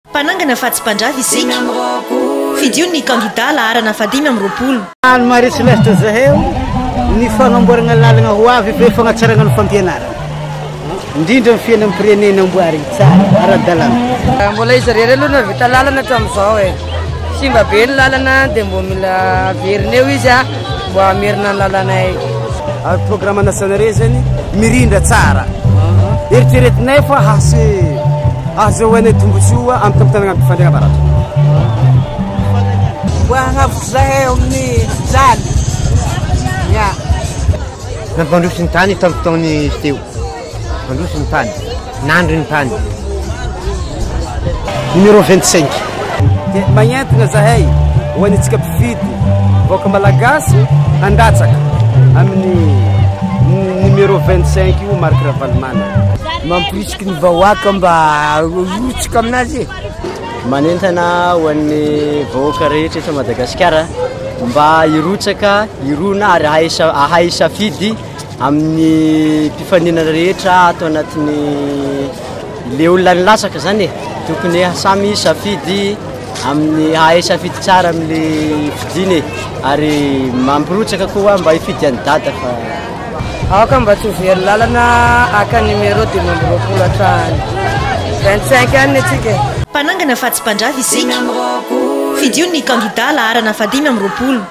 Mpanangana fa tsy mpandrava isika. Fidio ny kandidà laharana fahadimy amby roapolo. Anne Marie Celeste Zaheo ny fagnamboaragna lalagna ho avy be fagnatsaragna ny fampianaragna, indrindra ny fiainam-pirenena amboarigny tsara, ara-dalàna. Mbola izy irery aloha nahavita lalana hatramin'izao e. Simba be ny lalana dia mbola averina eo izy a. Mba hamerina ny lalanay. Ary programme nationale zany mirindra tsara. Eritreretinay fa hase hahazoanay tombontsoa amin'ny fampitanana amin'ny fandrina baratra. Mba hanavotra zahay amin'ny tany. Ya. Nampandroso ny tany tamin'ny fotoana izy teo. Mandroso ny tany. Nandry ny tany. Numéro 25. Dia magnentina zahay ho an'itsika mpifidy vahoaka malagasy handatsaka amin'ny numéro 25 io Marc Ravalomanana. Mampirisiky ny vahoaka mba horotsika aminazy. Manentana ho an'ny vahoaka rehetra eto Madagasikara mba hirotsaka, hirona ary ahay safidy. Amin'ny mpifaninana rehetra ato anatin'ny le olona nilatsaka zany e, tokony samy hisafidy amin'ny hahay safidy tsara amle fidiny e, ary mampirotsaka koa mba hifidy an'i Dada fa. Aoka mba tsy ho very lalana haka numéro dimy amby roapolo hatrany vingt cinq any atsika e. Mpanangana fa tsy mpandrava isika. Fidio ny kandida laharana fahadimy amby roapolo.